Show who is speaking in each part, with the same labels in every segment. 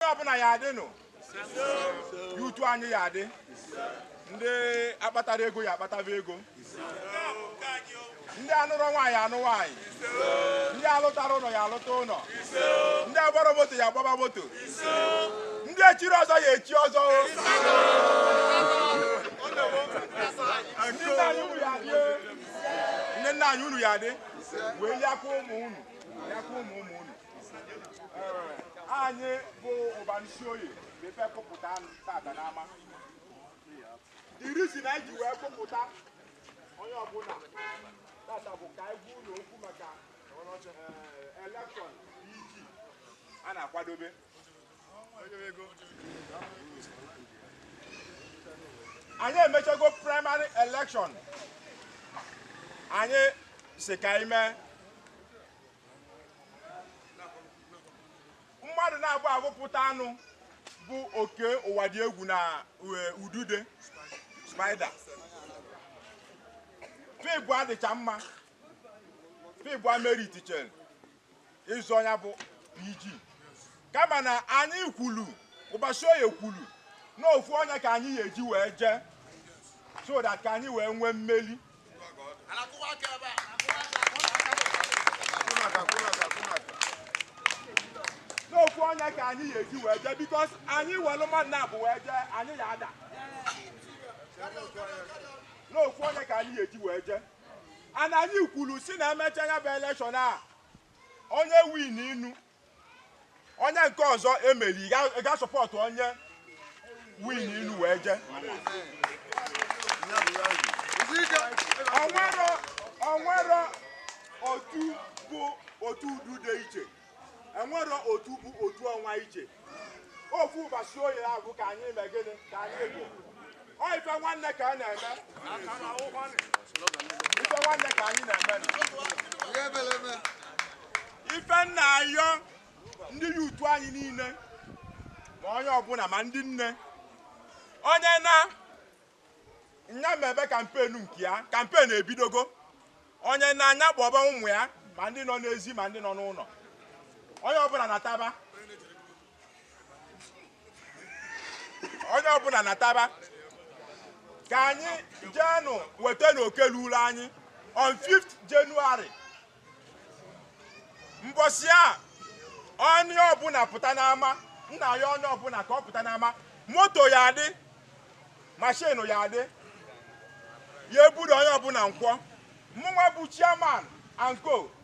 Speaker 1: onye ọbụna ya adị nụ ya utu anyị ya adị ndị akpatara ego ya akpataba ego ndị anụrọ nwaanyị ya anụ nwaanyị ndị alụtara ụnọ ya alụta ụnọ ndị agbara moto ya agbaba moto ndị echiri ọzọ ya echi ọzọ o. ndị nna anyị unu ya adị ndị nna anyị unu ya adị wee liakwa ụmụ unu liakwa ụmụ ụmụ unu anyị bụ ụbọsị oye ife kpọpụta unu tata n'ama irisi na iji wee kpọpụta onye ọbụna tata bụ ka anyị gwa unu okwu maka eh, election pg a na-akwadobe anyị emechago primary election anyị si ka anyị mee mmadụ naabọ agụpụtanụ bụ oke Ụwadiegwu na e, udude spider fa ịbụa dịcha mma fa ịbụa meritichere ịzọ onye bụ pg kama na anyị kwulu ụbọsị oye kwulu na ofu onye ka anyị ga-eji wee jee so that ka anyị wee nwee mmeli n'ofu onye ka anyị ga-eji wee jee because anyị welu mmadụ naabọ wee jee anyị ya ada n'ofu onye ka anyị ga-eji wee jee ana anyị kwulu si na emecha ya bụ election a onye wininu onye nke ọzọ emeri ị ga- ị ga-asupport onye wininu wee jee onwero onwero otu bụ otu udude iche enwero otu bụ otu ọnwa iche ofu ụbọsị oye abụ ka anyị mee gịnị ka anyị bụ Ọ ife nwanne ka a na-eme. Ife nwanne ka anyị na-eme. Ife m na-ayọ ndị ya utu anyị niile ma onye ọbụna ma ndị nne onye na nya mebe campaign nke ya campaign ebidogo onye na nya kpọba ụmụ ya ma ndị nọ n'ezi ma ndị nọ n'ụnọ onye ọbụna nataba onye ọbụna nataba ka anyị jeenụ weta na oke lulu anyị on 5th January mbọsị a onye ọbụna pụta n'ama nna ya onye ọbụna ka ọ pụta n'ama moto ya adị mashin ya adị ya ebudo onye ọbụna nkwọ mụnwa bụ chairman and co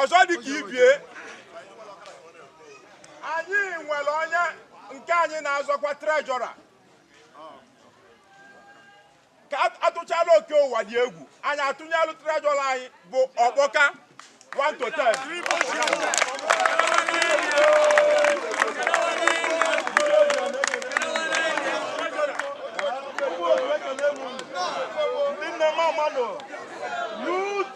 Speaker 1: ọzọ dị ka ibie anyị nwere onye nke anyị na-azọkwa trejọra ka atụchala Oke Ụwadiegwu anyị atụnyelụ trejọra anyị bụ Ọkpọka 1 to 10 Nne m amanụ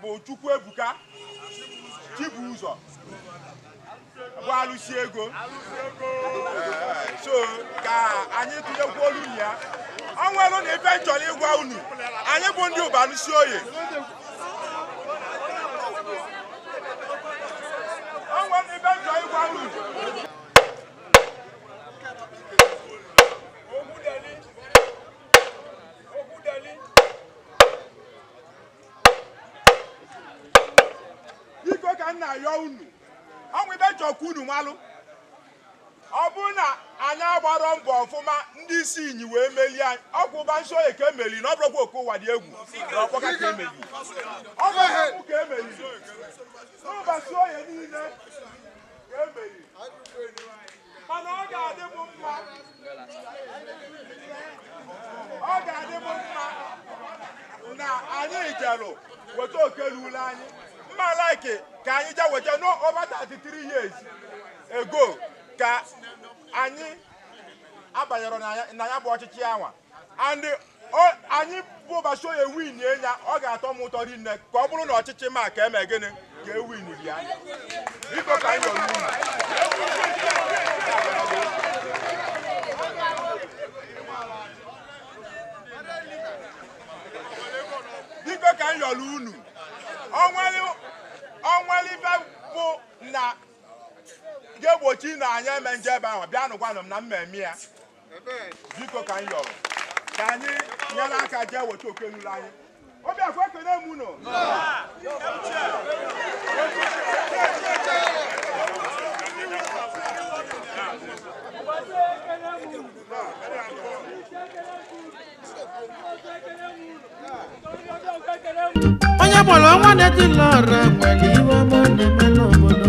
Speaker 1: bụ Chukwuebuka Chibuzọ bụ Alụsiego so ka anyị tụnyekwuolu ya o nwere na ife m chọrọ ịgwa unu anyị bụ ndị Ụbalụsioye o nwere na ife m chọrọ ịgwa unu biko ka m na-ayọ unu o nwe ife m chọkwa unu malụ ọ bụrụ na anyị agbarọ mbọ ọfụma ndị isi inyi wee melie anyị ọ kwa Ụbalụsioye ka emeli na ọ bụrọkwa Oke Ụwadiegwu na Ọkpọka ka emeli ọ bụ Ebuka ka emeli Ụbalụsioye niile ka emeli mana ọ ga-adị m mma ọ ga-adị m mma na anyị jelụ weta oke lulu anyị mma like ka anyị je weta no over 33 years ago ka anyị abanyerọ na ya- na ya bụ ọchịchị anwa and anyị bụ Ụbalụsioye win ya ọ ga-atọ m ụtọ rinne ka ọ bụrụ na ọchịchị m a ka eme gịnị ka e win ya biko ka anyị biko ka anyị yọrọ unu o nwere ife ọbụna ga-egbochi na anyị eme nje ebe ahụ bịanụ gwanụ m na m emee ya biko ka anyị yọrọ ka anyị nyere aka jee weta oke lulu anyị o biko ekene m
Speaker 2: unu onye bụrụ ọnwa na-etili ọra nwere ife ọma ọ na-eme n'obodo